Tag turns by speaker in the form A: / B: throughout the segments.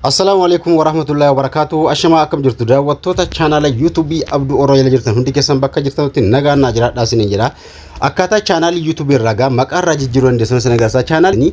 A: Assalaamu alaikum warahmatullahi wabarakatuh. Ashamaa akkam jirtu daawwattoota chaanaala yuutuubii Abduu Oroo jala jirtan hundi keessan bakka jirtanitti nagaan naa jiraadhaa isiniin jedha. Akkaataa chaanaalii yuutuubii irraa gaa maqaa irraa jijjiiruu dandeessan isin agarsiisa. Chaanaalii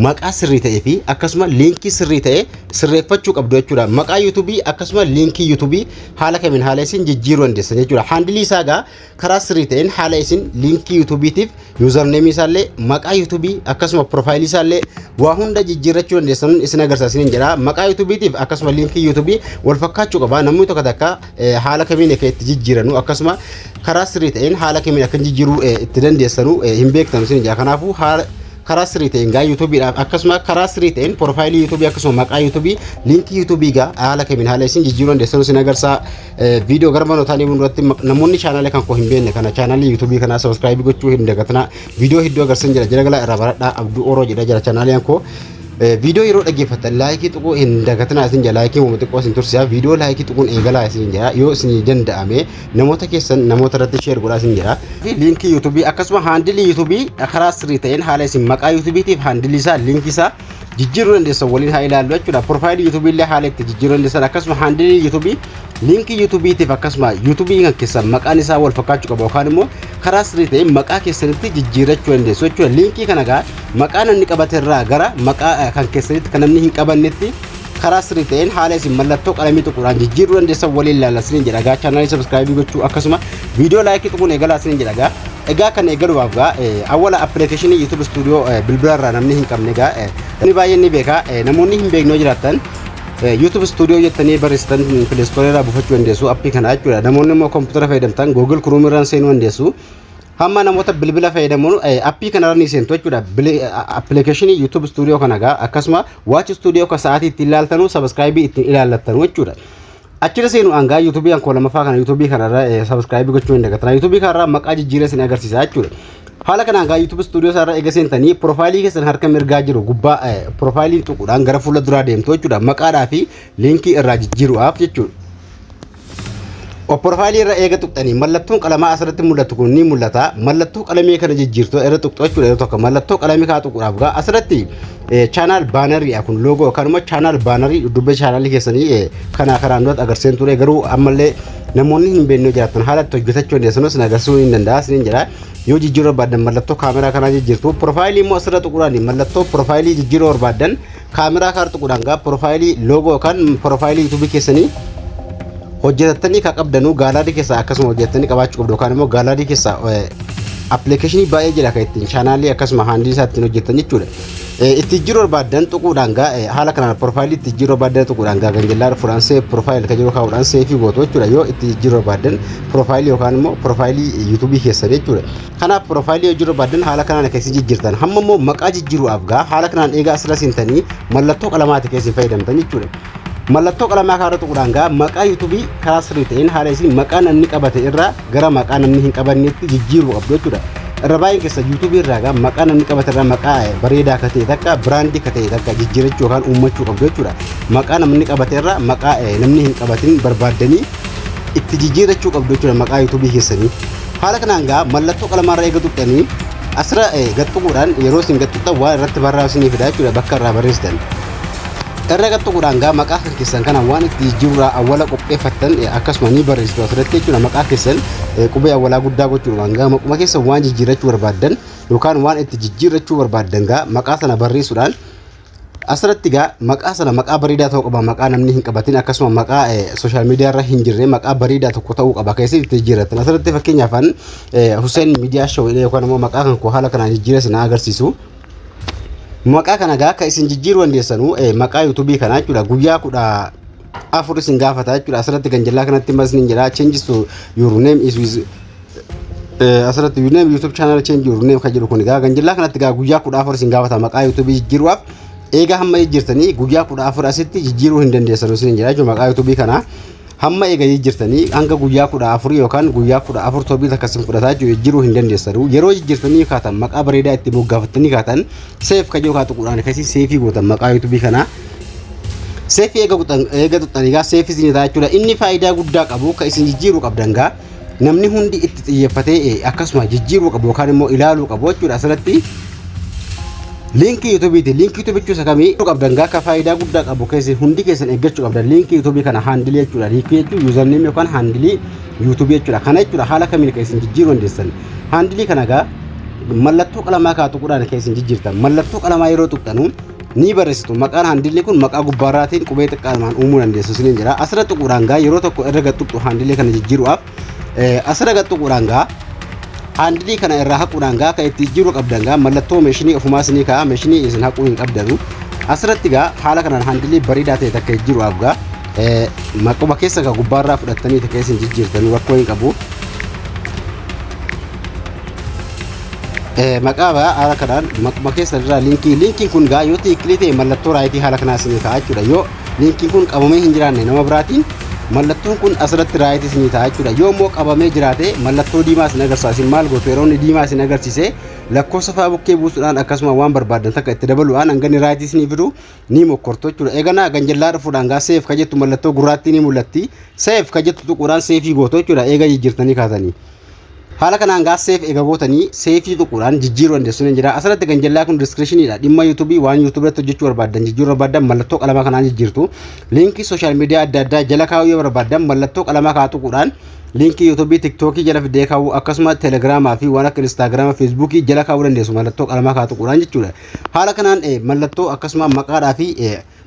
A: maqaa sirrii ta'ee fi akkasuma liinkii sirrii ta'e sirreeffachuu qabdu jechuudha. Maqaa yuutuubii akkasuma liinkii yuutuubii haala kamiin haala isin jijjiiruu dandeessan jechuudha. Haandilii isaa gaa Karaa sirrii ta'een haala isin liinkii YouTube tiif username isaa illee maqaa YouTube akkasuma profile isaa illee waa hunda jijjiirrachuu dandeessan isin agarsiisaniin jedha. Maqaa YouTube tiif akkasuma liinkii YouTube wal fakkaachuu qaba. Namni tokko takka haala kamiin akka itti jijjiiranu akkasuma karaa sirrii ta'een haala kamiin akka jijjiiruu itti dandeessanu hin beektan isin jedha. Kanaafuu haala karaa sirrii ta'een gaa YouTube dhaaf akkasuma karaa sirrii ta'een profile YouTube akkasuma maqaa YouTube liinkii YouTube gaa haala kamiin haala isin jijjiiruu dandeessanu isin agarsiisa. viidiyoo gara manootaa deemuun irratti namoonni chaanaalee kan koo hin beekne kana chaanaalii yuutuubii kanaa sabiskiraayibii gochuu hin dagatinaa viidiyoo hedduu agarsiisan jira jira galaa irraa baradhaa abduu oroo jedha jira chaanaaliin koo viidiyoo yeroo dhaggeeffattan laayikii tuquu hin dagatinaa isin jira laayikii uuma xiqqoo isin tursiisa viidiyoo laayikii tuquun eegalaa isin jira yoo isin danda'ame namoota keessan namoota irratti sheer godhaa isin jira liinkii yuutuubii akkasuma haandilii yuutuubii karaa sirrii ta'een haala isin maqaa yuutuubiitiif haandilii isaa liinkii isaa jijjiiruu dandeessan waliin haa ilaallu jechuudha. Piroofaayilii yuutuubii illee haala itti jijjiiruu dandeessan akkasuma haandilii yuutuubii liinkii yuutuubiitiif akkasuma yuutuubii kan keessan maqaan isaa wal fakkaachuu qaba yookaan immoo karaa sirrii ta'een maqaa keessanitti jijjiirrachuu dandeessu jechuudha. Liinkii kana gaa maqaa namni qabate irraa gara maqaa kan keessanitti kan namni hin qabannetti karaa sirrii ta'een haala isin mallattoo qalamii tuquudhaan jijjiiruu dandeessan waliin ilaalla isiniin jedha gaa chaanaalii sabiskiraayibii gochuu akkasuma viidiyoo laayikii tuquun eegalaa isiniin jedha gaa egaa kan eegalumaaf gaa awwala appilikeeshinii yuutuub istuudiyoo bilbila irraa namni hin qabne gaa inni baay'een ni beeka namoonni hin beekne yoo jiraattan YouTube Studio jettanii barreessitan Play Store irraa buufachuu dandeessu appii kana jechuudha. Namoonni immoo kompiitara fayyadamtan Google Chrome irraan seenuu dandeessu. Hamma namoota bilbila fayyadamuun appii kanarra ni seentu jechuudha. Appilikeeshinii YouTube Studio kana egaa akkasuma Watch Studio kan sa'aatii ittiin ilaaltanu sabiskiraayibii ittiin ilaallattanu jechuudha. Achirra seenu hangaa YouTube kan koo lammaffaa kana YouTube kanarra sabiskiraayibii gochuu hin dagatina. YouTube kanarra maqaa jijjiiree isin agarsiisa jechuudha. Haala kanaan hangaa YouTube Studio isaarra eega seentanii piroofaayilii keessan harka mirgaa jiru gubbaa piroofaayilii tuquudhaan gara fuula duraa deemtu jechuudha. Maqaadhaa fi liinkii irraa jijjiiruudhaaf jechuudha. Of profaayilii irra eega tuqxanii mallattoon qalamaa asirratti mul'atu kun ni mul'ata. Mallattoo qalamee kana jijjiirtu irra tuqxu jechuudha yeroo tokko mallattoo qalamii kaa tuquudhaaf gaa asirratti chaanaal baanarii kun loogoo kanuma chaanaal baanarii dudduuba chaanaalii keessanii kanaa kanaan duratti agarsiisan ture garuu ammallee namoonni hin beekne jiraatan haala itti hojjetachuu dandeessan sin agarsiisuu hin danda'a sin jedha yoo jijjiiruu barbaadan mallattoo kaameraa kanaa jijjiirtu profaayilii immoo asirra tuquudhaan mallattoo profaayilii jijjiiruu barbaadan Kaameraa kaar tuquudhaan gaa piroofaayilii loogoo yookaan piroofaayilii yuutuubii keessanii hojjetattanii kan qabdanuu gaalaarii keessaa akkasuma hojjetattanii qabaachuu qabdu yookaan immoo gaalaarii keessaa appilikeeshinii baay'ee jira kan ittiin chaanaalii akkasuma haandii isaa ittiin hojjetan jechuudha. Itti jiru barbaadan tuquudhaan gaa haala kanaan piroofaayilii itti jiru barbaadan tuquudhaan gaa ganjallaa dhufuudhaan see piroofaayil kan jiru kaa'uudhaan seefii gootu jechuudha yoo itti jiru barbaadan piroofaayilii yookaan immoo piroofaayilii yuutuubii keessanii jechuudha. Kanaaf piroofaayilii hojiirra baaddan haala kanaan akka isin jijjiirtan hamma immoo maqaa jijjiiruudhaaf gaa haala kanaan eegaa asirra seentanii mallattoo qalamaati akka isin fayyadamtan jechuudha. Mallattoo qalamaa kanarra tuquudhaan gaa maqaa yuutuubii karaa sirrii ta'een haala isin maqaa namni qabate irraa gara maqaa namni hin qabanneetti jijjiiruu qabdu jechuudha. Irra baay'een keessa yuutuubii irraa gaa maqaa namni qabate irraa maqaa bareedaa akka ta'e takka biraandii akka ta'e takka jijjiirachuu yookaan uummachuu qabdu jechuudha. Maqaa namni qabate irraa maqaa namni hin qabatin barbaaddanii itti jijjiirrachuu qabdu jechuudha maqaa yuutuubii keessanii. Haala kanaan gaa mallattoo qalamaa irra eega tuqxanii asirra gad tuquudhaan yeroo isin gad tuqxan waan irratti barraa'u isinii fida jechuudha bakka irraa barreessitan. Irra gad tuquudhaan gaa maqaa kan keessan kana waan itti jijjiirraa awwala qopheeffattan akkasuma ni barreessitu asirratti jechuudha maqaa keessan qubee awwalaa guddaa gochuudhaan gaa maquma keessan waan jijjiirrachuu barbaaddan yookaan waan itti jijjiirrachuu barbaaddan gaa maqaa sana barreessuudhaan Asirratti egaa maqaa sana maqaa bareedaa ta'uu qaba maqaa namni hin qabatin akkasuma maqaa sooshaal miidiyaa irra hin jirre maqaa bareedaa tokko ta'uu qaba keessatti itti jijjiirrattan asirratti fakkeenyaaf an Hussein miidiyaa show jedhee yookaan immoo maqaa kan koo haala kanaan jijjiiree sana agarsiisu maqaa kana egaa akka isin jijjiiruu dandeessanu maqaa yuutuubii kana jechuudha guyyaa kudha afur isin gaafata jechuudha asirratti ganjallaa kanatti mas ni jedha changes to your name is with Asirratti yuuneem yuutuub chaanaal cheenjii yuuneem kan jedhu kun egaa ganjillaa kanatti egaa guyyaa kudha afur isin gaafata maqaa yuutuubii jijjiiruudhaaf eegaa hamma jijjiirtanii guyyaa kudha afur asitti jijjiiruu hin dandeessan isin jedha jechuudha maqaa yuutuubii kana hamma eega jijjiirtanii hanga guyyaa kudha afur yookaan guyyaa kudha afur torbee takka isin fudhataa jechuudha jijjiiruu hin dandeessan yeroo jijjiirtanii kaatan maqaa bareedaa itti moggaafattanii kaatan seef kan yookaan tuquudhaan keessi seefii gootan maqaa yuutuubii kanaa seefii eega tuqxan egaa seefii isin jechuudha inni faayidaa guddaa qabu kan isin jijjiiruu qabdan gaa namni hundi itti xiyyeeffatee eh, akkasuma jijjiiruu qabu yookaan immoo ilaaluu qabu jechuudha asirratti liinkii yuutuubiiti liinkii yuutuubii jechuun isa kamii Iddoo qabdan gaaka faayidaa guddaa qabu keessi hundi keessan eeggachuu qabdan liinkii yuutuubii kana haandilii jechuudha liinkii jechuun yuuzarneemii yookaan haandilii yuutuubii jechuudha kana jechuudha haala kamiin kan isin jijjiiruu dandeessan haandilii kana gaa mallattoo qalamaa kaa tuquudhaan kan isin jijjiirtan mallattoo qalamaa yeroo tuqxanu ni barreessitu. Maqaan haandilee kun maqaa gubbaarraatiin qubee xiqqaa lamaan uumuu dandeessu isiniin jira. Asirra tuquudhaan gaa yeroo tokko irra gad tuqxu haandilee kana jijjiiruudhaaf asirra gad tuquudhaan gaa haandilii kana irraa haquudhaan gaa akka itti jijjiiruu qabdan gaa mallattoo meeshinii ofumaa isinii ka'a meeshinii isin haquu hin qabdanu. Asirratti gaa haala kanaan haandilee bareedaa ta'e takka jijjiiruudhaaf gaa maquma keessa gaa gubbaarraa fudhattanii takka isin jijjiirtanu rakkoo hin qabu. Maqaa ba'aa haala kanaan maquma keessa irraa liinkii liinkiin kun gaa yoo tiikilii ta'e mallattoo raayitii haala kanaa isinii ta'a jechuudha yoo liinkiin kun qabamee hin jiraanne nama biraatiin mallattoon kun asirratti raayitii isinii ta'a jechuudha yoo immoo qabamee jiraate mallattoo diimaa isin agarsiisa isin maal gootu yeroo inni diimaa isin agarsiise lakkoofsa fa'aa bukkee buusuudhaan akkasuma waan barbaadan takka itti dabaluudhaan hanganni raayitii isinii fidu ni mokkortu jechuudha eeganaa ganjallaa dhufuudhaan gaa seef ka jettu mallattoo gurraattii ni mul'atti seef ka jettu tuquudhaan seefii gootu jechuudha eega jijjiirtanii kaatanii. Haala kanaan gaa seef eega gootanii seefii tuquudhaan jijjiiruu dandeessuun hin jira. Asirratti kan jallaa kun diskirishiniidha. Dhimma yuutuubii waan yuutuubii irratti hojjechuu barbaaddan jijjiiruu barbaaddan mallattoo qalamaa kanaan jijjiirtu. Liinkii sooshaal miidiyaa adda addaa jala kaa'uu yoo barbaaddan mallattoo qalamaa kaa tuquudhaan liinkii yuutuubii tiktookii jala fidee kaa'uu akkasuma telegiraamaa fi waan akka instaagiraama feesbuukii jala kaa'uu dandeessu mallattoo qalamaa kaa tuquudhaan jechuudha. Haala kanaan mallattoo akkasuma maqaadhaa fi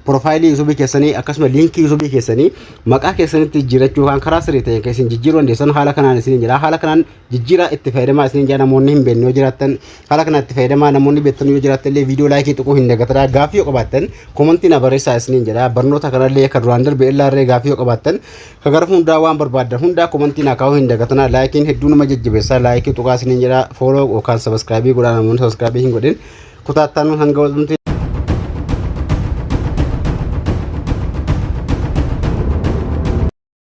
A: Profaayilii yuutuubii keessanii akkasuma liinkii yuutuubii keessanii maqaa keessanitti jijjiirachuu yookaan karaa sirrii ta'een kan isin jijjiiruu dandeessan haala kanaan isin jira. Haala kanaan jijjiiraa itti fayyadamaa isin jira namoonni hin beekne yoo jiraattan haala kanaan itti fayyadamaa namoonni beektan yoo jiraattan illee viidiyoo laayikii tuquu hin dagatinaa gaaffii yoo qabaattan komantii na barreessaa isin jira. Barnoota kanallee kan duraan darbe illee gaaffii yoo qabaattan kan gara hundaa waan barbaaddan hundaa komantii na kaa'uu hin dagatinaa laayikiin hedduu nama jajjabeessaa laayikii tuqaa isin jira fooloo yookaan sabaskiraabii godhaa namoonni sabaskiraabii hin godhin. Kutaa ittaanu hanga walumti